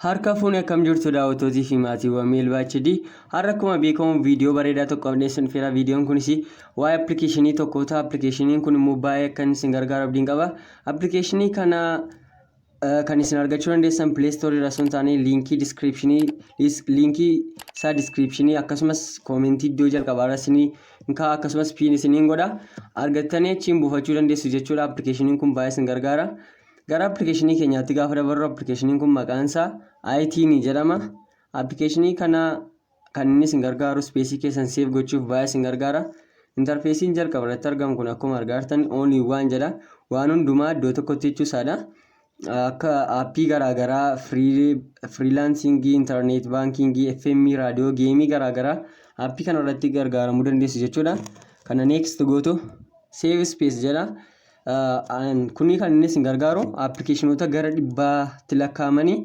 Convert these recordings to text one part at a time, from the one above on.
Harka fuunee akkam jirtu daawwattootii fi maatiiwwan Meelbaa HD. Har'a akkuma beekamu viidiyoo bareedaa tokko dhiyeessuun fira viidiyoon kunis waa'ee appilikeeshinii tokkoota. Appilikeeshiniin kun immoo baay'ee akka inni isin gargaaru abdiin qaba. Appilikeeshinii kana kan isin argachuu dandeessan pileestoorii irra sun taane liinkii diskiriipshinii liinkii isaa diskiriipshinii akkasumas koomentii iddoo jalqabaa irra isinii kaa akkasumas piin isiniin godha argattanii achiin buufachuu dandeessu jechuudha appilikeeshiniin kun baay'ee isin gargaara gara appilikeeshinii keenyaatti gaafa dabarru appilikeeshiniin kun maqaan isaa aayitiinii jedhama appilikeeshinii kana Kan inni isin gargaaru ispeesii keessan seef gochuuf baay'ee isin gargaara. Intarfeesiin jalqaba irratti argamu kun akkuma argaa jirtan all in one jedha. Waan hundumaa iddoo tokkotti jechuu isaadha. Akka aappii garaagaraa firiilaansingii, intarneet baankingii, FM, raadiyoo, geemii garaagaraa aappii kana irratti gargaaramuu dandeessu jechuudha. Kana next gootu save space jedha. Kuni kan inni isin gargaaru appilikeeshinoota gara dhibbaatti lakkaa'amanii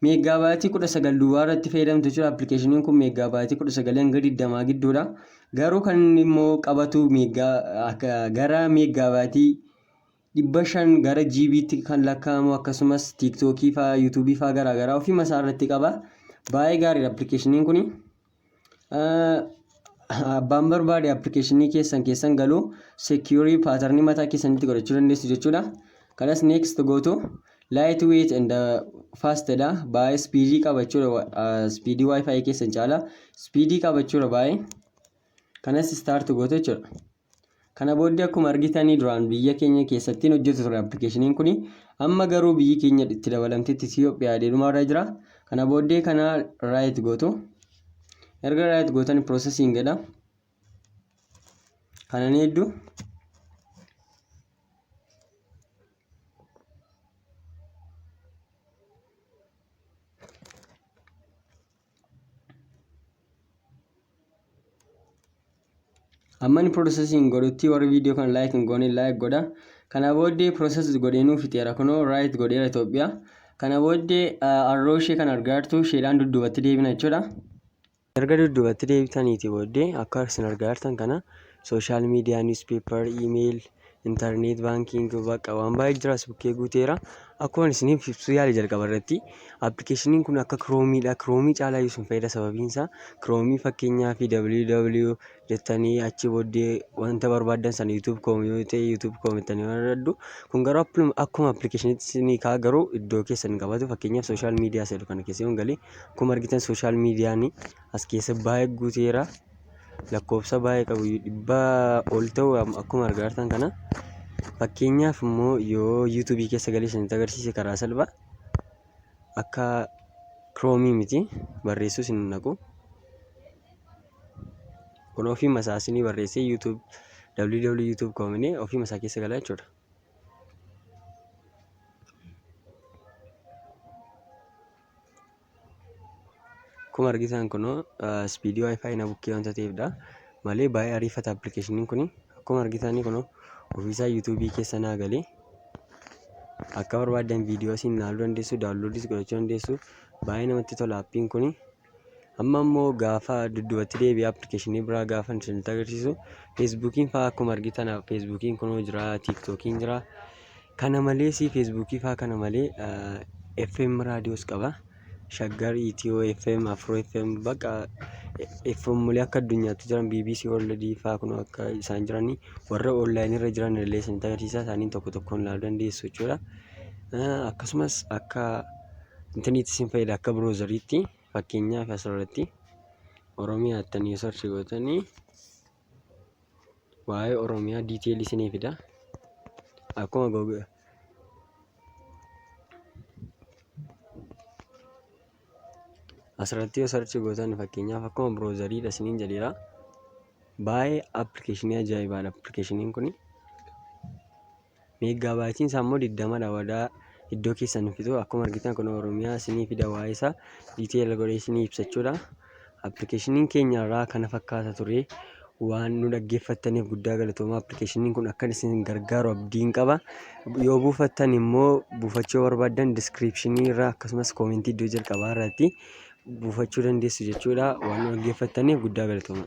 Meeggaabaayitii 19 duwwaa irratti fayyadamtu jechuudha. Appilikeeshiniin kun meeggaabaayitii 19 hanga 20 gidduudha. Garuu kan inni immoo qabatu gara meeggaabaayitii 500 gara GB'tti kan lakkaa'amu akkasumas tiiktookii fa'aa yuutuubii fa'aa garaagaraa ofii masaa irratti qaba. Baay'ee gaariidha appilikeeshiniin kun. Abbaan barbaade appilikeeshinii keessan keessan galuu seekiyurii paatarnii mataa keessanitti godhachuu dandeessu jechuudha. Kanas next gootu light weight and fast dha. Baay'ee speedii qaba jechuudha. Speedii wifi keessan caala speedii qaba jechuudha baay'ee. Kanas start gootu jechuudha. Kana booddee akkuma argitanii duraan biyya keenya keessattiin hojjetu ture appilikeeshiniin kuni amma garuu biyyi keenya itti dabalamtetti Itoophiyaa dheedhuma irra jira. Kana booddee kana raayit gootu. Erga raayit gootan piroosesiin jedha. Kana ni heddu. amma inni processing godhutti warri viidiyoo kana like hin goone like godha kana booddee process godheenuu fixeera kunoo right godheera Itoophiyaa kana booddee arroo ishee kan argaa jirtu isheedhaan dudduubatti deebina jechuudha erga dudduubatti deebitaniiti booddee akka isin argaa jirtan kana social media, newspaper, email, internet banking bakka waan baay'ee jiraas bukkee guuteera. Akkuma isiniif ibsuu yaale jalqaba irratti appilikeeshiniin kun akka kiroomiidha. Kiroomii caalaa iyyuu isin fayyada sababiin isaa kiroomii fakkeenyaaf www jettanii achi booddee wanta barbaaddan sana yuutuub koom yoo ta'e yuutuub koom jettanii barbaaddu. Kun garuu appilum- akkuma appilikeeshiniitti isinii ka'a garuu iddoo keessan hin qabatu fakkeenyaaf social media jedhu kana keessa yoon galee akkuma argitan social media ni as keessa baay'ee guuteera. lakkoofsa baay'ee qabu dhibbaa ol ta'u akkuma argaa jirtan kana fakkeenyaaf immoo yoo yuutuubii keessa galee isinitti agarsiise karaa salphaa akka kiroomii miti barreessuu isin naqu kun ofiima isaa isinii barreessee yuutuub www yuutuub koominee ofiima isaa keessa galaa jechuudha. Akkuma argitan kunoo ispiidii waayifaayi na bukkee wanta ta'eefdha. Malee baay'ee ariifata appilikeeshiniin kun akkuma argitan kunoo ofiisaa yuutuubii keessa naa galee akka barbaaddan viidiyoo siin ilaaluu dandeessu daawunloodiis godhachuu dandeessu baay'ee namatti tola appiin kun. Amma immoo gaafa dudduubatti deebi'ee appilikeeshinii biraa gaafa isinitti agarsiisu feesbuukiin fa'aa akkuma argitan feesbuukiin kunoo jira tiiktookiin jira. Kana malees feesbuukii faa kana malee eh, FM raadiyoos qaba. Shaggar, Itiyoo FM, Afroo FM bakka FM illee akka addunyaatti jiran BBC World faa kun akka isaan jiranii warra online irra jiran illee isinitti agarsiisa isaaniin tokko tokkoon ilaaluu dandeessu jechuudha. Eh, Akkasumas akka intaniitti isin fayyada akka biroozariitti fakkeenyaaf asirratti Oromiyaa jettanii yoo sarchi gootanii waa'ee Oromiyaa detail isinii fida. Akkuma Google asirratti yoo sarchi gootan fakkeenyaaf akkuma browseriidha isiniin jedheera. Baay'ee appilikeeshinii ajaa'ibaadha appilikeeshiniin kuni. Meeggaa baayitiin isaa immoo 20 dha wadaa iddoo keessan hin fixu akkuma argitan kun oromiyaa isinii fida waa'ee isaa detail godhee isinii ibsa jechuudha appilikeeshiniin keenya irraa kana fakkaata ture waan nu dhaggeeffattaniif guddaa galatooma appilikeeshiniin kun akkan isin gargaaru abdiin qaba yoo buufattan immoo buufachuu barbaaddan diskiriipshinii irraa akkasumas koomentii iddoo jalqabaa irratti buufachuu dandeessu jechuudha waan nu dhaggeeffattaniif guddaa galatooma.